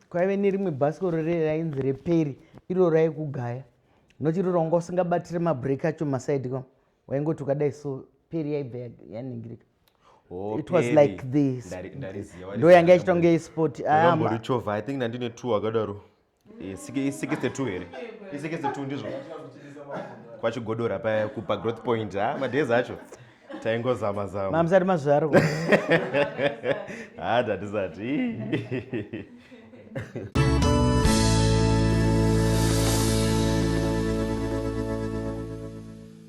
kwaive nerimwe bhasikoro riye rainzi reperi iro raikugaya noti iroro wanga usingabatire mabreak acho masaidi ka waingoti ukadai so peri yaibva yaningirika oh, it was like this ndo yanga ichita kunge isport amborichovha ah, i think ndandine two akadaro isikise two here isikise two ndizvo kwachigodora paya kupa growth point ha ah, madhezi acho taingozama zama mamusati mazvarwa hada tisati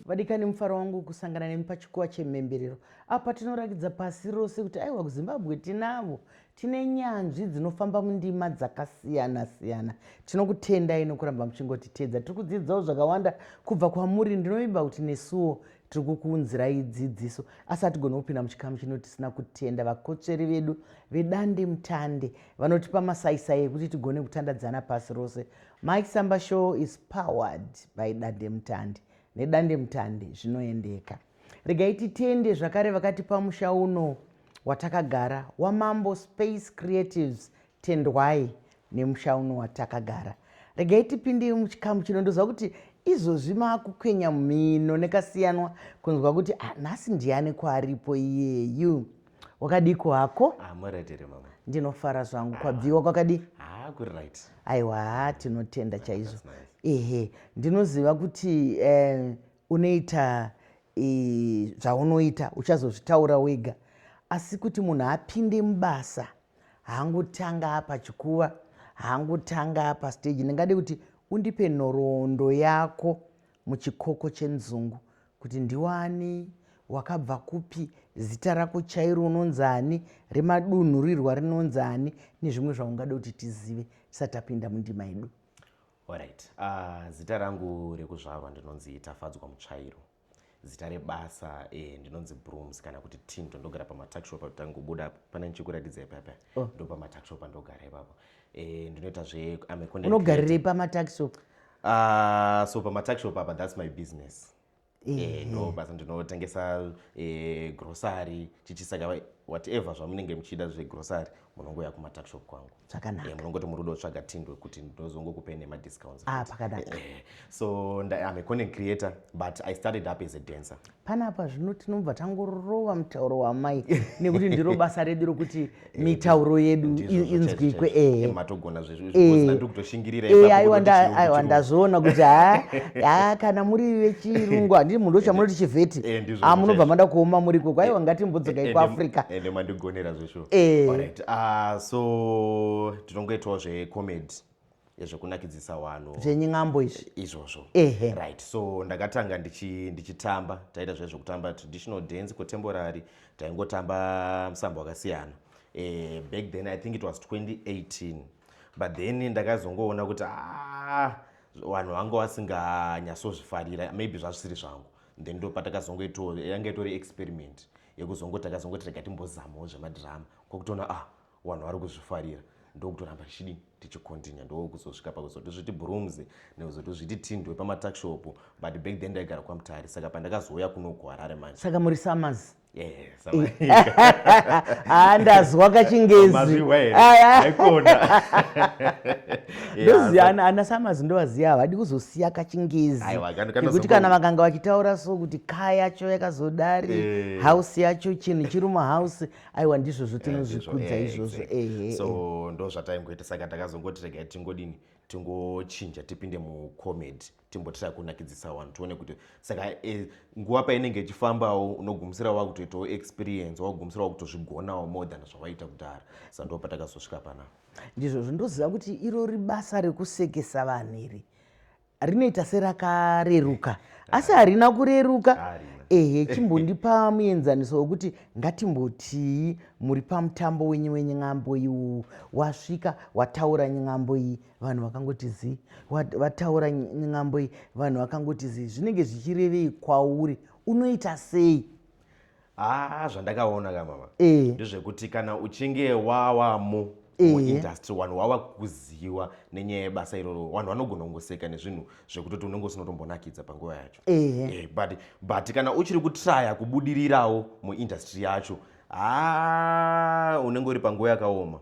vadikani mufaro wangu kusangana nemi pachikuwa chemhemberero apa tinorakidza pasi rose kuti aiwa kuzimbabwe tinavo tine nyanzvi dzinofamba mundima dzakasiyana siyana tinokutendai nokuramba muchingotiteedza tiri kudziidzawo zvakawanda kubva kwamuri ndinovimba kuti nesuwo tiri kukuunzirai dzidziso asi hatigoni kupinda muchikamu chino tisina kutenda vakotsveri vedu vedande mutande vanotipa masaisai ekuti tigone kutandadzana pasi rose mike samba show is powered by dande mutande nedande mutande zvinoendeka regai titende zvakare vakatipa musha uno watakagara wamambo space creatives Tendwai nemusha uno watakagara. Regai tipinde muchikamu chino ndoziva kuti izvozvi maakukwenya mhino nekasiyanwa kunzwa kuti ah, nhasi ndiani kwaaripo iyeyu. Wakadiko hako? Ah, muredere mama. Ndinofara zvangu kwabviwa kwakadii? Ah, kuri right. Aiwa, tinotenda chaizvo. Ehe, ndinoziva kuti eh, unoita zvaunoita uchazozvitaura wega asi kuti munhu apinde mubasa hangu tanga apa chikuva hangu tanga apa stage ndingade kuti undipe nhoroondo yako muchikoko chenzungu kuti ndiwani wakabva kupi zita rako chairo unonzi ani remadunhurirwa rinonzi ani nezvimwe zvaungade kuti tizive tisati tapinda mundima yedu orit uh, ah, zita rangu rekuzvarwa ndinonzi tafadzwa mutsvairo Zita rebasa eh, ndinonzi Brooms kana kuti Tinto ndogara pamatakshop tangobuda pana ndichikuratidza ipapa oh. ndo pamatakshop andogara ipapo eh, ndinoita zve unogarirei pamatakshop uh, ah, so pamatakshop apa that's my business eh, eh, ndo basa ndinotengesa eh, grocery chichisaka whatever zvamunenge muchida zvegrocery munongouya kumatakshop kwangu zvakanaka yeah, munongoti muri kuda kutsvaga tindwe kuti ndozongokupei nemadiscounts ah, pakanaka eh, eh. so am a content creator but i started up as a dancer panapa zvino tinobva tangorova mutauro wamai nekuti ndiro basa redu rokuti eh, mitauro yedu inzwikwe matogona zvezvozvaiwa ndazviona kuti ha kana muri vechirungu handii munhu ochamunoti chivheti munobva mada kuoma muriko kwaiwa ngatimbodzokai kuafrica True. Eh. Alright. Uh, so tinongoitawo zvecomedy yezvekunakidzisa wano zvenyin'ambo izvi izvozvo ehe right so ndakatanga ndichi, ndichitamba taita zve zvekutamba traditional dance contemporary taingotamba musambo wakasiyana eh, back then i think it was 2018 but then ndakazongoona kuti ah, vanhu vanga vasinganyasozvifarira maybe zvazvisiri zvangu then ndo patakazongoitawo yanga itori experiment yekuzongoti akazongoti rega timbozamawo zvemadhirama kwakutoona ah wanhu wari kuzvifarira ndokutoramba tichidini tichikontinya ndokuzosvika pakuzoti zviti brooms nekuzoti zviti tindwe pamatakshop but back then ndaigara kwamutari saka pandakazouya kuno kuharare manje saka muri summers andazwa kachingezi ndoziva ana samazi ndovaziva havadi kuzosiya kachingezi nekuti kana vakanga vachitaura so kuti ka yacho yakazodari eh. house yacho chinhu chiri muhouse aiwa ndizvozvo eh, tinozvikudza eh, izvozvo ehe so ndozvataingoita saka takazongoti regai tingodini tingochinja tipinde mucomedy timbotira kunakidzisa vanhu tione kuti saka e, nguva painenge ichifambawo unogumisira wava kutoitawo experience wakugumisira wa kutozvigonawo more than zvavaita kudhara sa ndo patakazosvika panapa Ndizvozvo ndoziva kuti iro ribasa rekusekesa vanhu iri rinoita serakareruka asi harina kureruka ehe chimbondipa muenzaniso wekuti ngatimbotii muri pamutambo wenyu wenyambo iwu wasvika wataura nyambo iyi vanhu vakangoti zii vataura nyambo iyi vanhu vakangoti zii zvinenge zvichirevei kwauri unoita sei haa zvandakaona ka mama eh. ndezvekuti kana uchinge wawamo eh. muindustry vanhu wava kuziva nenyaya yebasa iroro vanhu vanogona kungoseka nezvinhu zvekutoti unenge usinotombonakidza panguva yacho eh, but, but kana uchiri kutraya kubudirirawo muindustry yacho haa ah, unenge uri panguva yakaoma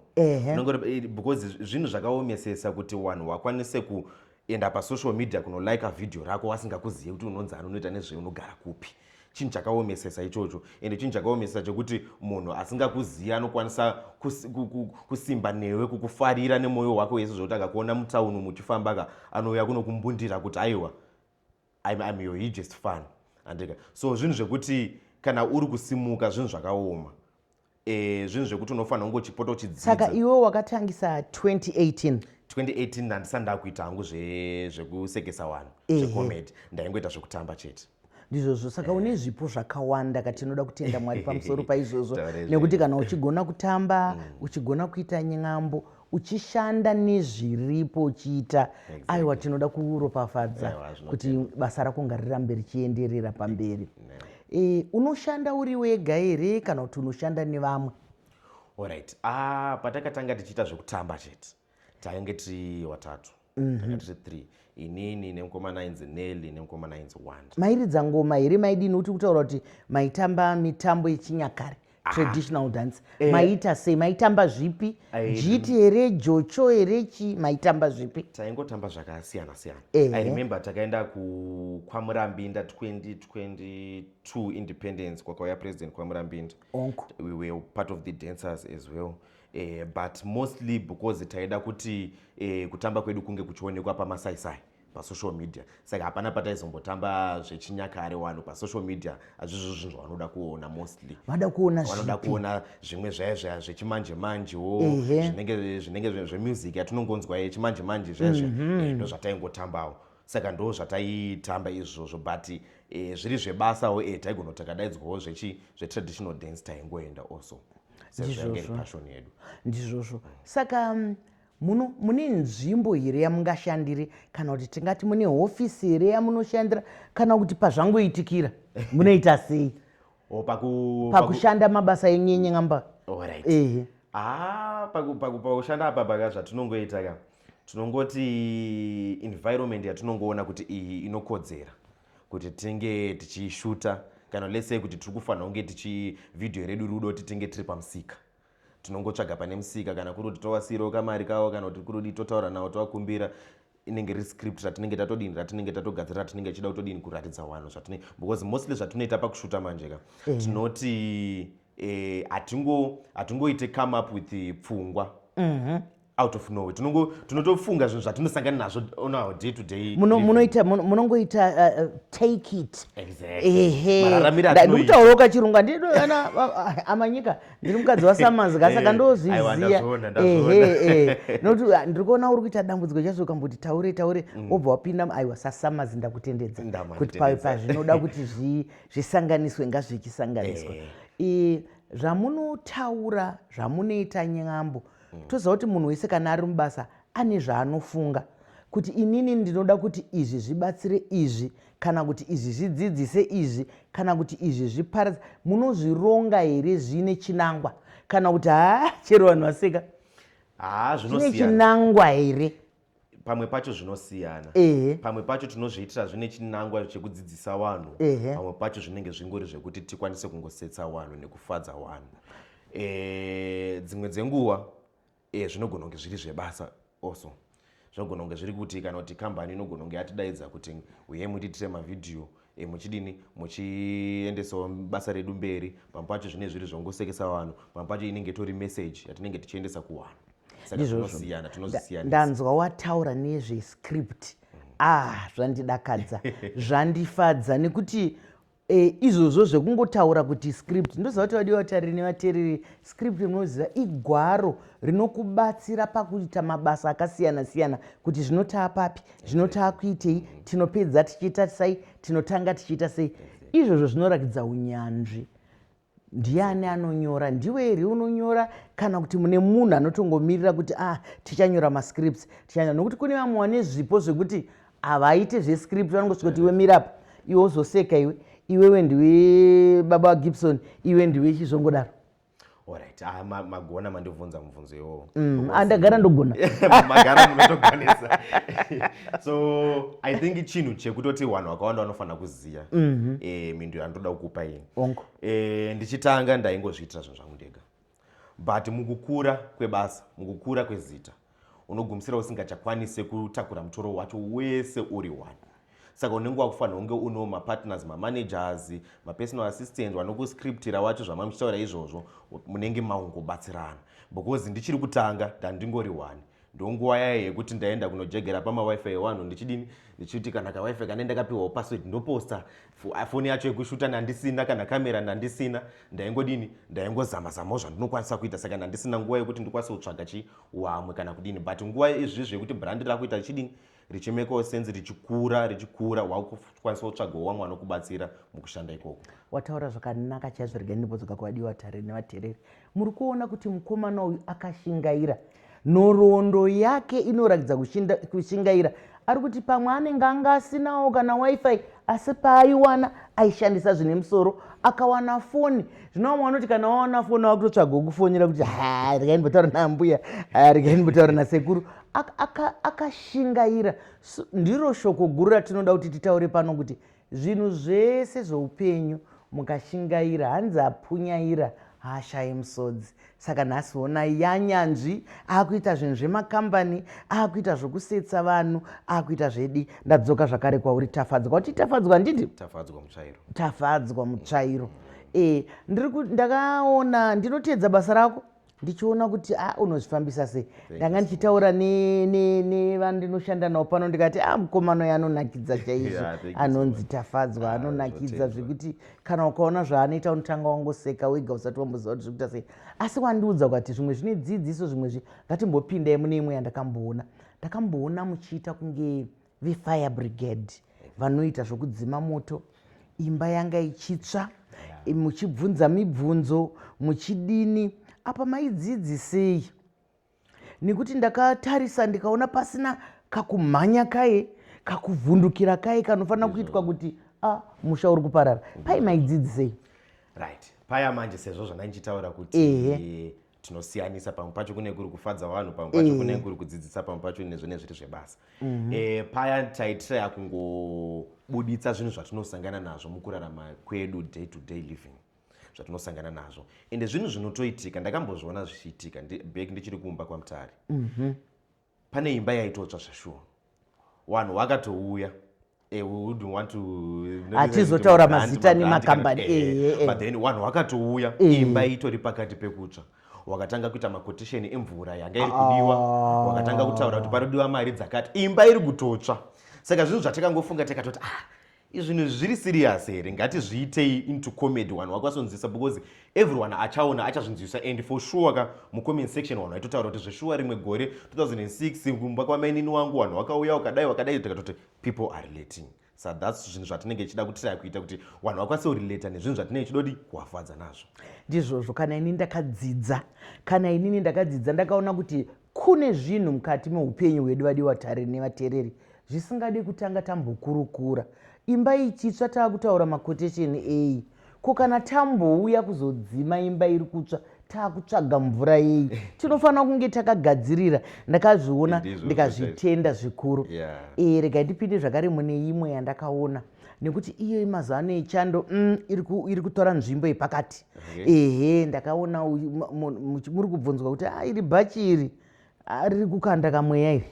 because zvinhu zvakaomesesa kuti vanhu vakwanise ku enda pasocial media kunolika vhidhiyo rako wasingakuzive kuti unonzi ani unoita nezvei unogara kupi chinhu chakaomesesa ichocho ende chinhu chakaomesesa chekuti munhu asingakuzivi anokwanisa kusimba newe kukufarira nemwoyo wake wese zvekuti akakuona mutauni muchifambaka anouya kunokumbundira kuti aiwa I'm, I'm your hugest fan andika so zvinhu zvekuti kana uri kusimuka zvinhu zvakaoma e, zvinhu zvekuti unofanira kunge uchipota uchidzidzisaka iwe wakatangisa 2018 2018 ndandisa ndakuita hangu zvekusekesa vanhu zvecomedy ndaingoita zvekutamba chete ndizvozvo saka eh. une zvipo zvakawanda ka tinoda kutenda mwari pamusoro paizvozvo nekuti kana uchigona kutamba mm. uchigona kuita nyambo uchishanda nezviripo uchiita aiwa tinoda kuropafadza kuti basa rako ngarirambe richienderera pamberi e, unoshanda uri wega here kana kuti unoshanda nevamwe orit ah, patakatanga tichiita zvekutamba chete tainge tiri watatu mm -hmm. tiri three inini nemukomana ainzi nelly nemukomana ainzi wanda mairidza ngoma here maidini uti kutaura kuti maitamba mitambo yechinyakare ah. traditional dance eh. maiita sei maitamba zvipi jiti here jocho here chi maitamba zvipi taingotamba zvakasiyana siyana eh. i remember takaenda kwamurambinda 2022 independence kwakauya president kwamurambinda we were part of the dancers as well eh, but mostly because taida kuti eh, kutamba kwedu kunge kuchionekwa pamasaisai pasocial media saka hapana pataizombotamba zvechinyakare wano pasocial media hazvizvo zvinhu zvavanoda kuona mostly vada kuonavanoda kuona zvimwe zvaye zvaya zvechimanje manjewo zvinenge zvemusic yatinongonzwa yechimanje manje zvezve mhm. eh, ndo zvataingotambawo saka ndo zvataitamba izvozvo but eh, zviri zvebasawo eh, taigona takadaidzwawo zvetraditional dance taingoenda also sezvangepashoni yedu ndizvozvo saka mm, muno mune nzvimbo here yamungashandire kana kuti tingati mune hofisi here yamunoshandira kana kuti pazvangoitikira munoita sei oh, pakushanda mabasa enyu enyengamba ehe ah, pakushanda apa baka zvatinongoita ka tinongoti environment yatinongoona kuti iyi inokodzera kuti tinge tichishuta kana let's say kuti tiri kufanira kunge tichi video redu rudo titinge tiri pamusika tinongotsvaga pane musika kana kuri kuti tovasiirawo kamari kavo kana kuti kuri kudii totaura navo tovakumbira inenge ri script ratinenge tatodini ratinenge tatogadzira ratinenge tichida kutodini kuratidza vanhu zvatine because mostly zvatinoita pakushuta manje ka mm. tinoti eh, hatingoite come up with pfungwa mm -hmm. out of nowhere tinongo tinotofunga zvinhu zvatinosangana nazvo on our day to day munoita munongoita uh, uh, take it ndikutaura ukachirungu andiana amanyika ndiri mukadzi wasamanzi ka saka ndozviziya nokuti uh, ndiri kuona uri kuita dambudziko chazo ukamboti taure taure mm. wobva wapinda aiwa sasamazi ndakutendedza kuti pawe pazvinoda kuti zvisanganiswe ngazvichisanganiswa zvamunotaura zvamunoita nyambo mm. toziva kuti munhu wese kana ari mubasa ane zvaanofunga kuti inini ndinoda kuti izvi zvibatsire izvi kana kuti izvi zvidzidzise izvi kana kuti izvi zviparadza munozvironga here zviine chinangwa kana kuti haa chero vanhu vaseka haa zvinochinangwa here pamwe pacho zvinosiyana pamwe pacho tinozviitira zvine chinangwa chekudzidzisa vanhu pamwe pacho zvinenge zvingori zvekuti tikwanise kungosetsa vanhu nekufadza vanhu e, dzimwe dzenguva e, zvinogona kunge zviri zvebasa also zvinogona kunge zviri kuti kana kuti kambani inogona kunge yatidaidza kuti uye mutiitire mavhidhiyo e, muchidini muchiendesawo basa redu mberi pamwe pacho zvine zviri zvongosekesa vanhu pamwe pacho inenge itori message yatinenge tichiendesa kuvanhu ndizvozvosiyana tinozvisiyana ndanzwa wataura nezvescript mm. ah zvandidakadza zvandifadza nekuti e, izvozvo zvekungotaura kuti script ndoziva kuti vadiwa vatariri nevatereri script munoziva igwaro rinokubatsira pakuita mabasa akasiyana siyana kuti zvinotaa papi zvino taakuitei tinopedza tichiita sei tinotanga tichiita sei izvozvo zvinorakidza unyanzvi ndiani anonyora ndiwe here unonyora kana kuti mune munhu anotongomirira kuti ah tichanyora mascripts tichanyora nokuti kune vamwe wane zvipo zvekuti havaite zvescript vanongosvika kuti iwe mirapo iwe uzoseka iwe iwewe ndiwe baba gibson iwe ndiwe chizvongodaro Alright, ah, ma, magona mandivhunza mubvunzo iwowo. Mm, ah, ndagara ndogona. Magara munotogonesa. so I think chinhu chekutoti vanhu vakawanda vanofanira kuziva mm -hmm. eh, mindu yandoda kukupa ini. Ongo. Eh, ndichitanga ndaingozviitira zvinhu zvangu ndega. But mukukura kwebasa, mukukura kwezita, unogumisira usingachakwanise kutakura mutoro wacho wese uri one saka unenge wakufanira kunge uno mapartners mamanagers mapersonal assistant vanokuscriptira wacho zvamamuchitaura izvozvo munenge maungobatsirana because ndichiri kutanga ndandingori one ndonguva yaye yekuti ndaenda kunojegera pamawifi ewanhu ndichidini ndichiti kana kawifi kane ndakapiwawo password ndoposta foni yacho yekushuta ndandisina kana kamera ndandisina ndaingodini ndaingozamazamawo zvandinokwanisa kuita saka ndandisina nguva yekuti ndikwanise kutsvaga chii wamwe kana kudini but nguva izvi zvekuti brand rakuita richidini richimekawo senzi richikura richikura wakukwanisa kutsvagawo wamwe anokubatsira mukushanda ikoko wataura zvakanaka chaizvo rega ndibodzoka kuvadiwa vatare nevatereri muri kuona kuti mukomana uyu akashingaira nhoroondo yake inoratidza kushingaira ari kuti pamwe anenge anga asinawo kana wifi asi paaiwana aishandisa zvine musoro akawana foni zvino vamwe vanoti kana wawana foni wakutotsvaga wokufonera kuti ha regai ndimbotaura naambuya regai ndimbotaura nasekuru akashingaira ndiro shoko guru ratinoda kuti titaure pano kuti Zvinhu zvese zvoupenyu mukashingaira hanzi apunyaira haashaye musodzi saka nhasi honai yanyanzvi akuita zvinhu zvemakambani akuita zvokusetsa vanhu akuita zvedi ndadzoka zvakare kwauri tafadzwa kuti tafadzwa handiti tafadzwa mutsvairo tafadzwa mutsvairo e ndiri ndakaona ndinoteedza basa rako ndichiona kuti a ah, unozvifambisa sei ndanga ndichitaura nevandinoshanda navo pano ndikati a ah, mukomano yanonakidza chaizvo anonzi tafadzwa ah, anonakidza zvekuti kana ukaona zvaanoita unotanga wangoseka wega usati wamboziva kuti zvikuita sei asi wandiudza kukati zvimwe zvine dzidziso zvimwe zvi ngatimbopindai mune imwe yandakamboona ndakamboona muchiita kunge vefire brigade vanoita zvokudzima moto imba yanga ichitsva muchibvunza mibvunzo muchidini apa maidzidzisei nekuti ndakatarisa ndikaona pasina kakumhanya kaye kakuvhundukira kaye kanofanira kuitwa kuti a musha uri kuparara pai maidzidzisei right paya manje sezvo zvandandichitaura kuti tinosiyanisa pamwe pacho kune kuri kufadza vanhu pamwe pacho mm. kune kuri kudzidzisa pamwe pacho nezvo nezviri zvebasa mm -hmm. e, paya taitiraya kungobuditsa zvinhu zvatinosangana nazvo mukurarama kwedu day to day living zvatinosangana nazvo ende zvinhu zvinotoitika ndakambozviona zvichiitika back ndichiri kumba kwamutari mm -hmm. pane imba yaitotsva zvashuwa wanhu wakatouya eh, hatizotaura mazita nemakambani eh, eh, but then wanhu wakatouya imba itori pakati pekutsva wakatanga kuita makotisheni emvura yanga iri kudiwa ah. wakatanga kutaura kuti panodiwa mari dzakati imba iri kutotsva saka zvinhu zvatakangofunga takatoti ah Izvinhu zviri serious here ngatizviitei into comedy wanhu wakwasonzwisa because everyone achaona achazvinzwisa and for sure ka mucomment section wanhu aitotaura kuti zveshuwa rimwe gore 2006 kumba kwamainini wangu wanhu wakauya wakadai wakadai tikatoti people are relating sa thats zvinhu zvatinenge tichida kutiraa kuita kuti wanhu vakwanise kurelata nezvinhu zvatinenge tichidodi kuwafadza nazvo ndizvozvo kana ini ndakadzidza kana inini ndakadzidza ndakaona kuti Kune zvinhu mukati meupenyu hwedu vadiwa tare nevatereri zvisingade kutanga tambokurukura. Imba ichitsva taakutaura makotesheni eyi? Ko kana tambouya kuzodzima imba iri kutsva taakutsvaga mvura yeyi? Eh. Tinofanira kunge takagadzirira. Ndakazviona ndikazvitenda zvikuru. Yeah. E, rega ndipinde zvakare mune imwe yandakaona. nekuti iyo yemazuva ano yechando mm, iri kutora nzvimbo yepakati ehe ndakaona muri kubvunzwa kuti ah, iri bhachi iri ah, riri kukanda kamweya iri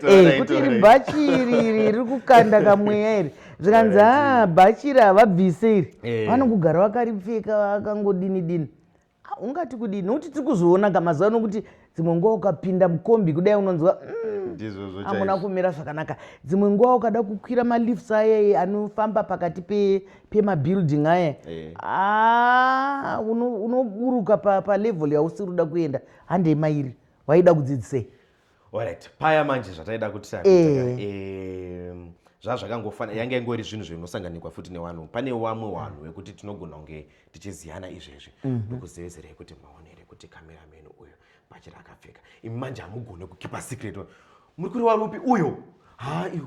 eh, kuti iri bhachi iri iri riri kukanda kamweya iri zvikanzi a ah, bhachi iri havabvise iri eh. vanokugara vakaripfeka vakangodini dini Ah, ungati kudii nokuti tiri kuzoona ka mazuva ano kuti dzimwe nguva ukapinda mukombi kudai unonzwa mm, ndizvozvo hamuna chaizvo kumira zvakanaka dzimwe nguva ukada kukwira malifts aya anofamba pakati pe- pemabuilding aya Eh. Ah, uno- unoburuka pa- palevel yausiri kuda kuenda handei mairi waida kudzidzisei Alright, paya manje zvataida kuti eh. eh, zvazvakangofanira yanga ingori zvinhu zvinosanganikwa futi newanhu pane wamwe wanhu wekuti tinogona kunge tichiziyana izvezvi mhm. ndokuzevezerei kuti maonere kuti kamerameni uyo bachira akapfeka imi manje hamugone kukipa secret muri kuri warupi uyo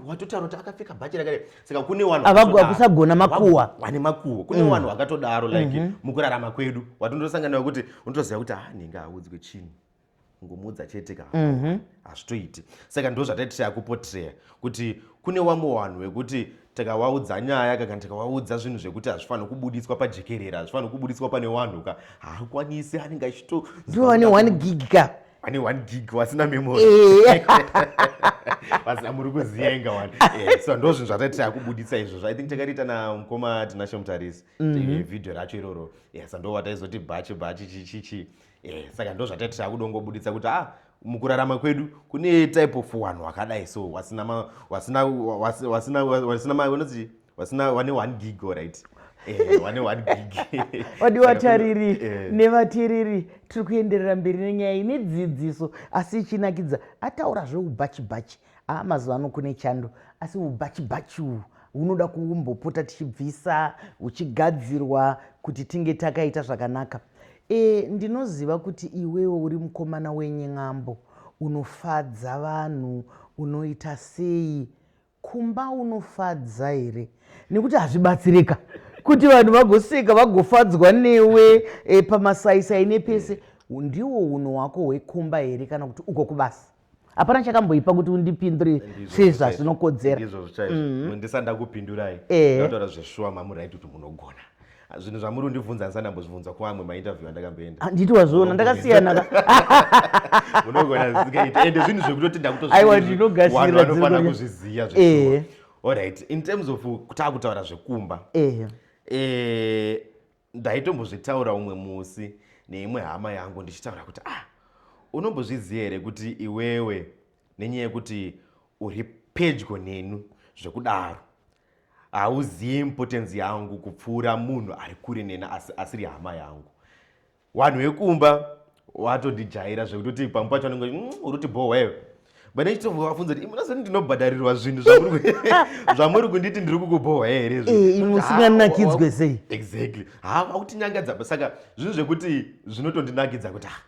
watotaura kuti akapfeka bhachi rakadai saka kune wanakusagona makuwa wane makuwa kune mm. wanhu wakatodaro like mhm. mukurarama kwedu watondosangana wekuti unotoziva kuti ha ah, nhinga haudzwe chinhu kungomudza chete ka mhm. hazvitoiti saka ndo zvataiti tayakupotreya kuti kune wamwe vanhu vekuti takawaudza nyaya ka kana takawaudza zvinhu zvekuti hazvifanhi kubuditswa pajekerera hazvifanhi kubuditswa pane wanhu ka haakwanisi anenge achito ndo ane one gig ka ane one gig wasina memory eh. vasina muri kuziva inga wani eh, so ndo zvinhu zvataiti takubuditsa izvozvo i think takariita na mukoma tinashe mutarisi mhm. eh, vhidhiyo racho iroro sa ndo vataizoti bhachi bhachi chichichi eh saka ndozvatati takudongobuditsa kuti ah mukurarama kwedu kune type of wanhu wakadai so wasina ma wasina wasina wasina ma unoti wasina wane one gig all right eh, wane one gig wadi watariri eh. nevatiriri tiri kuenderera mberi nenyaya ine dzidziso asi ichinakidza ataura zveubhachi bhachi aa mazuva ano kune chando asi ubhachibachi uhu hunoda kumbopota tichibvisa huchigadzirwa kuti tinge takaita zvakanaka e, ndinoziva kuti iwewo uri mukomana wenyen'ambo unofadza vanhu unoita sei kumba unofadza here nekuti hazvibatsirika kuti vanhu vagoseka vagofadzwa newe e, pamasaisai nepese ndiwo uno wako hwekumba here kana kuti uko kubasa hapana chakamboipa kuti undipindure sezva zvinokodzera izvo zvichaizvo mm-hmm. ndisati ndakupindurai eh. ndataura zveshuwa mamuraiti kuti munogona zvinhu zvamuri undibvunza ndisati ndambozvibvunza kuamwe mainterview andakamboenda ah, nditi wazviona ndakasiyana munogona zikaita ende zvinhu zvekutoti ndakutozaiwa ndinogasira vanofana kuzviziva zveshuwa eh. allright in terms of takutaura zvekumba eh. ndaitombozvitaura umwe musi neimwe hama yangu ndichitaura kuti ah unombozviziva here kuti iwewe nenyaya yekuti uri pedyo nenu zvekudaro hauzivi impotenzi yangu kupfuura munhu ari kure nena asi, asiri hama yangu vanhu vekumba watodijaira zvekutoti pamwe pacho anenge mm, uriti bhohwa iwe vane chitombo vafunza kuti munazoni ndinobhadharirwa zvinhu zvamuri kunditi ndiri kukubhohwa here zvimusinganakidzwe eh, sei exactly ha vakutinyangadza saka zvinhu zvekuti zvinotondinakidza kuti ah,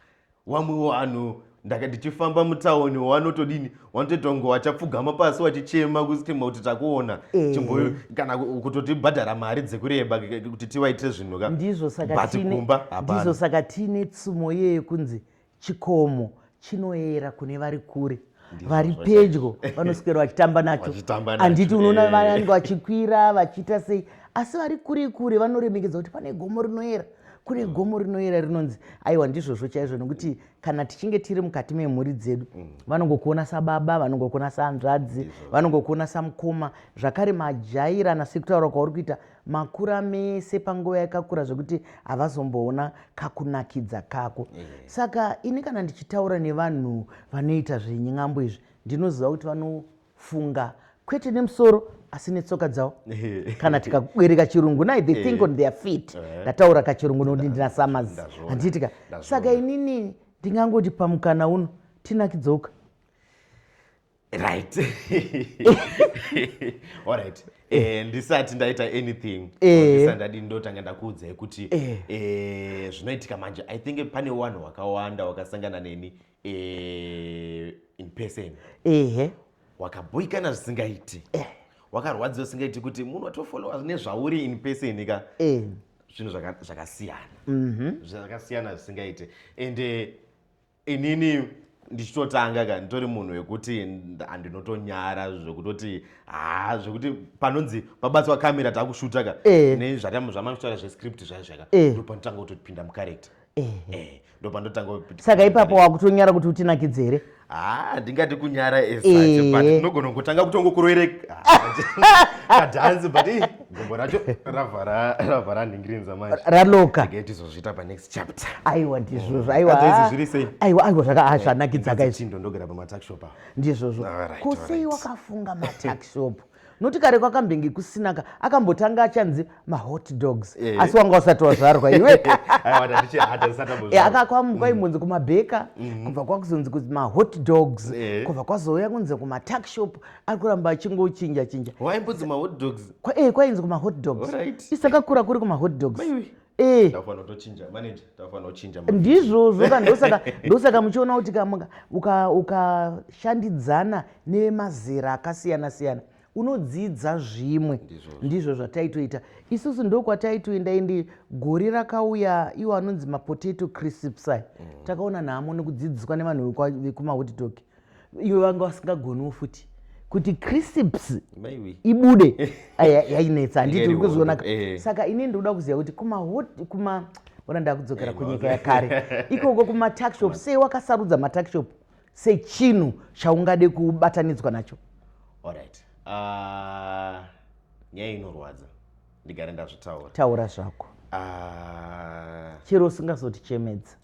wamwe wanhu ndaka ndichifamba mutaoni wanotodini wanotoitongo wachapfugama pasi wachichema kusitima kuti takuona eh. chimboyo kana kutotibhadhara mari dzekureba kuti tivaitire zvinhu ka ndizvo saka tiine tsumo yeyekunzi chikomo chinoera kune vari kure vari pedyo vanoswera vachitamba nacho handiti unoona eh. vanenge vachikwira vachiita sei asi vari kure kure vanoremekedza kuti pane gomo rinoera kune mm. gomo rinoera rinonzi aiwa ndizvozvo chaizvo nokuti kana tichinge tiri mukati memhuri dzedu mm. vanongokuona sababa vanongokuona saanzvadzi vanongokuona samukoma zvakare majairana sekutaura kwauri kuita makura mese panguva yakakura zvekuti havazomboona kakunakidza kako eh. saka ini kana ndichitaura nevanhu vanoita zvenyambo izvi ndinoziva kuti vanofunga kwete nemusoro asi netsoka dzavo kana tikabereka chirungu nai they think eh. on their feet eh. ndataura kachirungu nokuti ndina samazi handiitika saka inini ndingangoti pamukana uno tinakidzouka right alright eh, ndisati ndaita anything eh. ndisati ndadii ndotanga ndakuudzai kuti eh. eh, zvinoitika manje i think pane wanhu hwakawanda wakasangana neni eh, in person ehe eh. wakaboikana zvisingaiti eh. wakarwadziwa zvisingaiti kuti munhu watofolowa nezvauri in person ka eh. zvinhu zvakasiyana mm -hmm. zvakasiyana zvisingaite ende eh, inini ndichitotanga ka nditori munhu wekuti andinotonyara zvekutoti haa zvekuti panonzi pabatswa kamera takushuta ka eh. nezvamanotaura zvescript zvaizvaka eh. ndopanotanga kutopinda mucharacter eh, saka ipapo wakutonyara kuti utinakidze here haa ndingati kunyara esatinogona kutanga kutongokuroere kadhanzi but gombo racho ravhara nhingirinza manje raloka tizozviita panext chapter aiwa ndizvozvo oh. aiwa ah, zviri sei aiwa aiwa zvaka ah, eh, zvanakidza guys chindo ndogara pama tax shop ndizvozvo ko sei wakafunga ma tax shop noti kare kwakambenge kusinaka akambotanga achanzi mahot dogs eh. asi wanga usati wazvarwa iwe eh, akakwamukwa mm. imunzi kumabheka mm-hmm. kubva kwakuzonzi kuti mahot dogs eh. kubva kwazouya kunzi kumatax shop ari kuramba achingochinja chinja kwainzi kumahot dogs isakakura kuri kumahot dogs Eh. ndizvozvo ka ndosaka muchiona kuti ukashandidzana nemazera akasiyana siyana unodzidza zvimwe ndizvo zvataitoita isusu ndokwataitoenda ende gore rakauya iwo anonzi mapotato crisps aya mm. takaona nhamo nekudzidziswa nevanhu vekumahotitoki iwe vanga vasingagoniwo futi kuti crisps ibude yainetsa handiti uri kuzionaka eh. saka ini ndikuda kuziva kuti kuma ona ndakudzokera eh, kunyika yakare ikoko kumatuckshop sei wakasarudza matuckshop sechinhu chaungade kubatanidzwa nacho orit ah, nyaya inorwadza ndigare ndazvitaura taura zvako ah. chero usingazotichemedza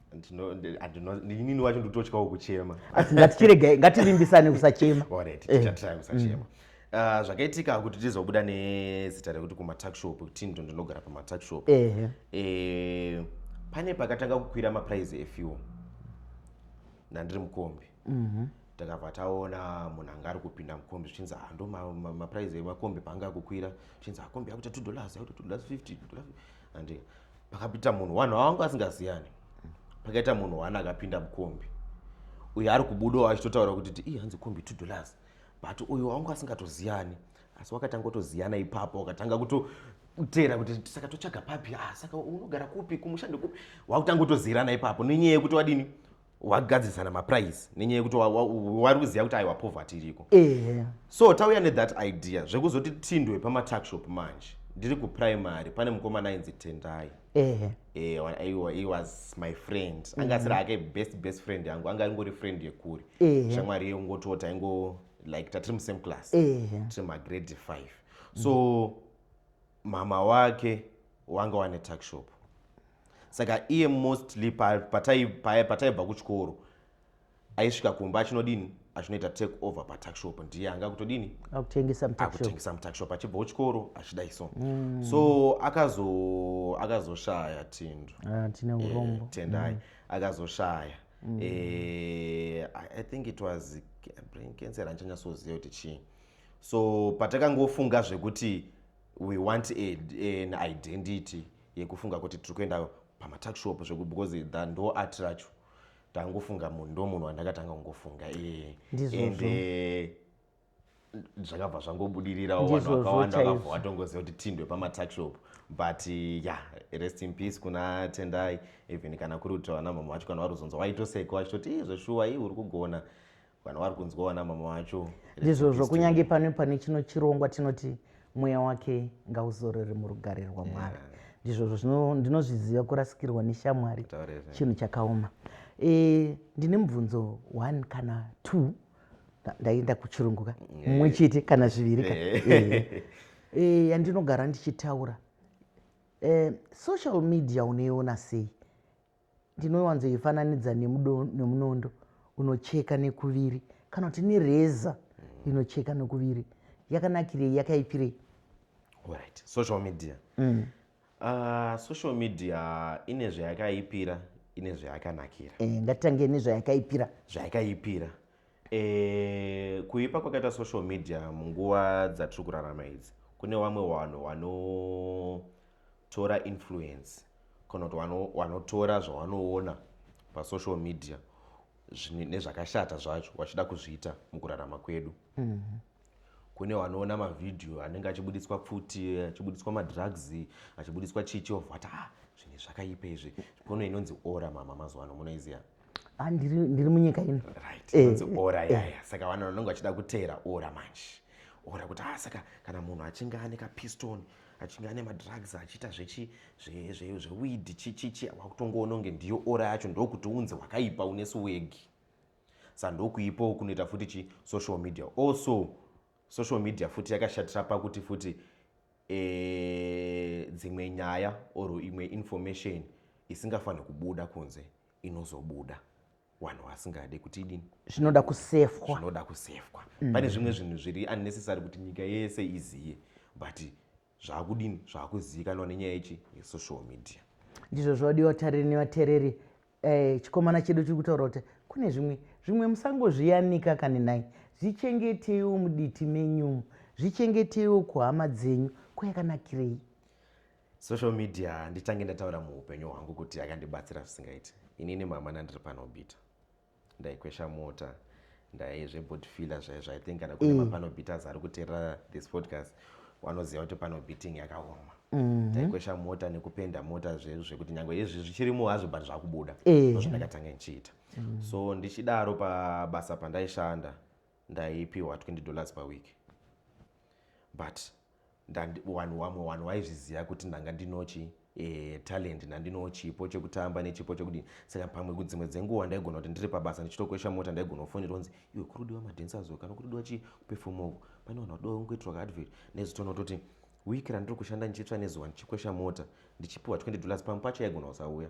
inini wacho ndototyawo kuchema asi ngatichirega ngativimbisane kusachema orit eh. tichatrai kusachema mm. ah, zvakaitika kuti tizobuda nezita rekuti kumatakshop tindo ndinogara pamatakshop eh, pane pakatanga kukwira maprize efuel nandiri mukombi mhm. takabva taona munhu anga ari kupinda mukombi zvichinzi hando ah, maprize emakombi paanga akukwira zvichinzi akombi ah, akuita two dollars akuita two dollars fifty and pakapita munhu wanhu awangu asingaziyani pakaita munhu wani akapinda mukombi uyo ari kubudawo achitotaura kuti ti i hanzi kombi two dollars but uyo wangu asingatoziyani asi wakatanga kutoziyana ipapo wakatanga kutoteera kuti saka totsvaga papi ah, saka unogara kupi kumushandi kupi wakutanga kutoziyirana ipapo nenyaya yekuti wadini wagadzisana maprice nenyaya yekuti wari kuziva kuti aiwa poverty iriko ehe so tauya nethat idea zvekuzoti tindwe pamatuckshop manje ndiri kuprimary pane mukomana ainzi tendai ehe eh, he was my friend mhm. anga asiri ake best best friend yangu anga ingori friend yekuri shamwari yongotota ingo like tatiri musame class tiri magrade five so mm -hmm mama wake wanga wane tuckshop saka iye mostly pataibva kuchikoro aisvika kumba achinodini achinoita take over patuckshop ndiye anga kutodini akutengesa mutuckshop achibva kuchikoro achidai so mm. so akazo akazoshaya tindo ah, eh, tendai mm. akazoshaya mm. eh, i think it was brain cancer andichanyatsoziva kuti chii so patakangofunga zvekuti we want a, an identity yekufunga kuti tiri kuenda pamatakshop zveku because tha ndo art racho tangofunga munhu ndo munhu wandakatanga kungofunga iye and eh, zvakabva zvangobudirirawo vanhu vakawanda vakabva vatongoziva kuti tindwe pamatakshop but eh, ya rest in peace kuna tendai even kana kuri kuti vana mama vacho kana varuzonza waitoseka vachitoti zveshuwa ii uri kugona vanhu vari kunzwawo ana mama vacho ndizvozvo kunyange pane pane chino chirongwa tinoti mweya wake ngauzorere murugare rwamwari yeah ndizvozvo ndinozviziva kurasikirwa neshamwari chinhu chakaoma e, ndine mubvunzo one kana two ndaenda kuchirunguka eh. mumwe chete kana zviviri ka eh. eh, yandinogara ndichitaura social media unoiona sei ndinowanzoifananidza nemunondo unocheka nekuviri kana kuti nereza mm. inocheka nekuviri yakanakirei yakaipirei right social media mm. uh, social media ine zvayakaipira ine zvayakanakira e, ngatitange nezvayakaipira zvayakaipira E, kuipa kwakaita social media munguva dzatiri kurarama idzi kune vamwe vanhu vanotora influence kana kuti vanotora zvavanoona pasocial media nezvakashata zvacho vachida kuzviita mukurarama kwedu mm -hmm. kune wanoona mavhidhiyo anenge achibuditswa pfuti achibuditswa madrugs achibuditswa chichi of what ah zvinhu zvakaipa izvi kono inonzi ora mama mazuva ano munoiziva ah, ndiri munyika ino right eh, inonzi ora eh. yaya saka vanhu vanenge vachida kuteera ora manje ora kuti ah saka kana munhu achinge ane kapiston achinge ane madrugs achiita zvechi zvewidi chichichi wakutongoononge ndiyo ora yacho ndokuti unzi wakaipa unesu wegi sa ndokuipo kunoita futi chi social media also social media futi yakashatira pakuti futi eh, dzimwe nyaya or imwe information isingafanhi kubuda kunze inozobuda vanhu vasingade kuti idini zvinoda kusefwa zvinoda kusefwa mm. pane zvimwe zvinhu zviri unnecessary kuti nyika yese iziye but zvaakudini zvaakuzivikanwa nenyaya yechi yesocial media ndizvo zvodiwa tariri nevatereri eh, chikomana chedu chiri kutaura kuti kune zvimwe zvimwe musangozviyanika kani nhai zvichengeteiwo muditi menyumu zvichengeteiwo kuhama dzenyu kuyakanakirei social media nditange ndataura muupenyu hwangu kuti yakandibatsira zvisingaiti inini mama nandiri panobita ndaikwesha mota ndaye zvebody filler zvaye zvaye think kana kune mm. mapano beaters ari kuteerera this podcast wanoziva kuti pano beating yakaoma mhm. taikwesha mm -hmm. mota nekupenda mota zvedu zvekuti nyange izvi zvichirimo hazvo but zvakubuda eh. ndozvandakatanga ndichiita mm. so ndichidaro pabasa pandaishanda ndaipiwa 20 dollars per week but vanhu wamwe vanhu waizviziva kuti ndanga ndinochi eh, talent ndandino chipo chekutamba nechipo chekudini saka pamwe kudzimwe dzenguva ndaigona kuti ndiri pabasa ndichitokwesha mota ndaigona kufonera kunzi iwe kurudiwa madancers kana kurudiwa chi kuperfoma uku pane vanhu vadowa kungoitirwa kaadvert nezvitoona kutoti wiki randiri kushanda ndichitsva nezuva ndichikwesha mota ndichipiwa 20 dollars pamwe pacho yaigona kusauya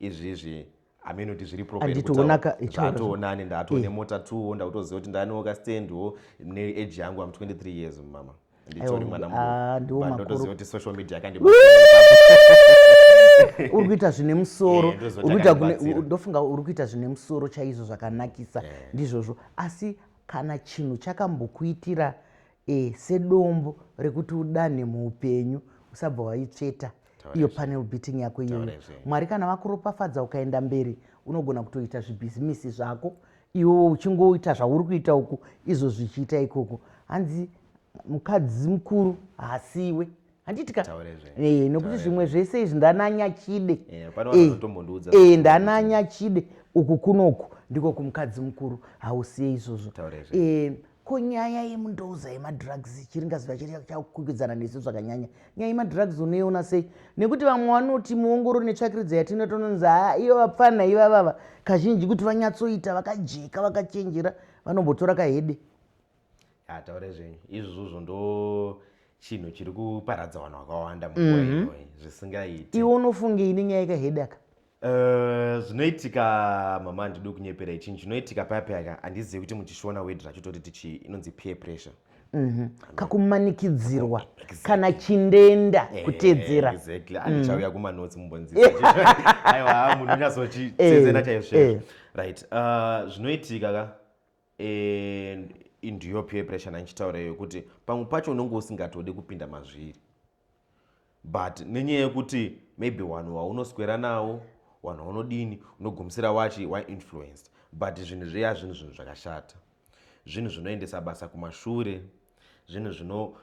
izvizvi hameno kuti zviri properatoonane ndaatone eh. mota two ndakutoziva kuti ndanewo kastand wo neage yangu am 23 years mama nditori mwana mundotoziva ah, kuti social media yakandi uri kuita zvine musoro eh, ndofunga uri kuita zvine musoro chaizvo zvakanakisa eh. ndizvozvo asi kana chinhu chakambokuitira e, sedombo rekuti udanhe muupenyu usabva waitsveta iyo panel beating yako iyoyo mwari kana vakuropafadza ukaenda mberi unogona kutoita zvibhizimisi zvako iwo uchingoita zvauri kuita uku izvo zvichiita ikoko hanzi mukadzi mukuru haasiwe handiti ka eh, nokuti zvimwe zvese izvi ndananya chide eh, eh, ndananya chide uku kunoku ndiko kumukadzi mukuru hausiye izvozvo ko nyaya yemundouza yemadrugs chiri ngaziva chiri chakukwikwidzana nesu zvakanyanya nyaya yemadrugs unoiona sei nekuti vamwe vanoti muongoro netsvakiridzo yatinotononzi haa iyo vapfana ivavava kazhinji kuti vanyatsoita vakajeka vakachenjera vanombotora kahede Ah, taure zvenyu izvozvo ndo chinhu chiri kuparadza vanhu vakawanda munguva Mhm. inoi zvisingaiti iwe unofunge ini nyaya ikahedaka Eh, zvinoitika mama handidi kunyeperai chinhu chinoitika paya payaka handizivi kuti muchishona word racho toti tichii inonzi peer pressure Mhm. kakumanikidzirwa kana chindenda Eh, kutedzera exactly Mm. andichauya kumanotsi mumbonzisa aiwa munhu Eh, unyasochitsezena chaizvo eh. right uh, zvinoitika ka and into your peer pressure nandichitaura iyo kuti pamwe pacho unenge usingatode kupinda mazviri but nenyaya yekuti maybe vanhu vaunoswera nawo vanhu vaunodini unogumisira wachi wainfluenced but zvinhu zviya zvinhu zvinhu zvakashata zvinhu zvinoendesa basa kumashure zvinhu zvino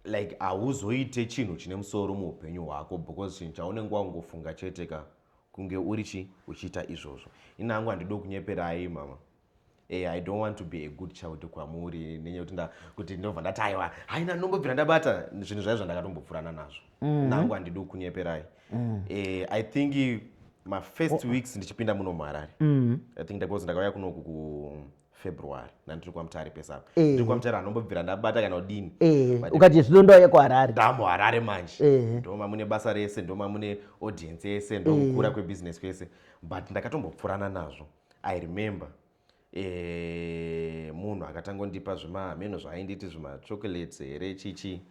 like hauzoite chinhu chine musoro muupenyu hwako because chinhu chaunenge wakungofunga chete ka kunge uri chi uchiita izvozvo ini hangu handido kunyeperai mama Eh, i don't want to be a good child kwamuri nenyaya yekuti kuti ndobva ndati aiwa haina ndinombobvira ndabata zvinhu zvayo zvandakatombopfurana nazvo mm. nangu handidi kukunyeperai mm. eh, i think mafirst oh. weeks ndichipinda muno muharare mm. i think because ndakauya kunoku kufebruary nandiri kwamutare pesapa eh. ndiri kwamutare anombobvira ndabata kana udini eh. ukati zvino ndouya kuharare ndamu harare manje eh. ndoma mune basa rese ndoma mune audience yese ndomukura kwebusiness kwese but ndakatombopfurana nazvo i remember eh, munhu akatangondipa zvimahameno zvaainditi zvimachocolates here chichi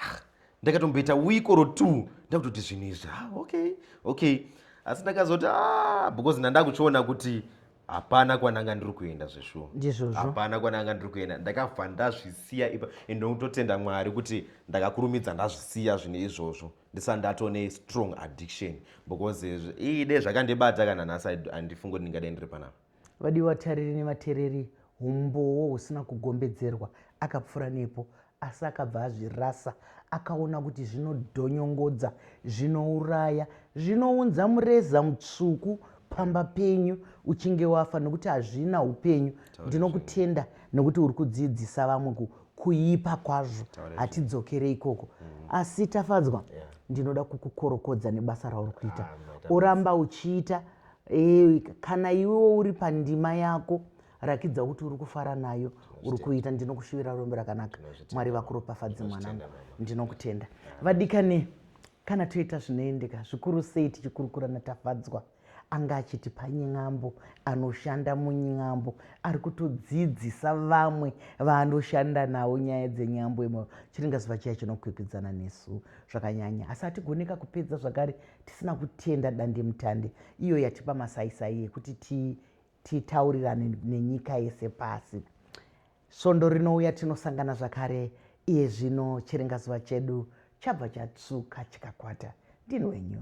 ah, ndakatomboita week or two ndakutoti zvinhu izvi ah, okay okay asi ndakazoti ah, because ndandakuchiona kuti hapana kwananga ndiri kuenda zveshuwa hapana kwananga ndiri kuenda ndakabva ndazvisiya ipa and ndokutotenda mwari kuti ndakakurumidza ndazvisiya zvinhu izvozvo ndisa ndatone strong addiction because iyi dai zvakandibata kana nhasi handifungi kuti ndingadai ndiri panapa vadiwa vatariri nevatereri humbowo husina kugombedzerwa akapfura nepo asi akabva azvirasa akaona kuti zvinodhonyongodza zvinouraya zvinounza mureza mutsvuku pamba penyu uchinge wafa nokuti hazvina upenyu ndinokutenda nokuti uri kudzidzisa vamwe kuipa kwazvo hatidzokerei ikoko mm. asi tafadzwa ndinoda kukukorokodza nebasa rauri kuita ah, oramba uchiita eh, kana iwewo uri pandima yako rakidza kuti uri kufara nayo uri kuita ndinokushuvira rombe rakanaka mwari vakuropafadzi mwanangu ndinokutenda vadikane kana toita zvinoendeka zvikuru sei tichikurukura natafadzwa anga achiti pany'ambo anoshanda muny'ambo ari kutodzidzisa vamwe vaanoshanda navo nyaya dzenyambo imo chiringa zuva chiya chinokwikwidzana nesu zvakanyanya asi hatigoneka kupedza zvakare tisina kutenda dandemutande iyo yatipa masaisai yekuti titaurirane nenyika yese pasi svondo rinouya tinosangana zvakare iye zvino chiringa zuva chedu chabva chatsvuka chikakwata ndini wenyu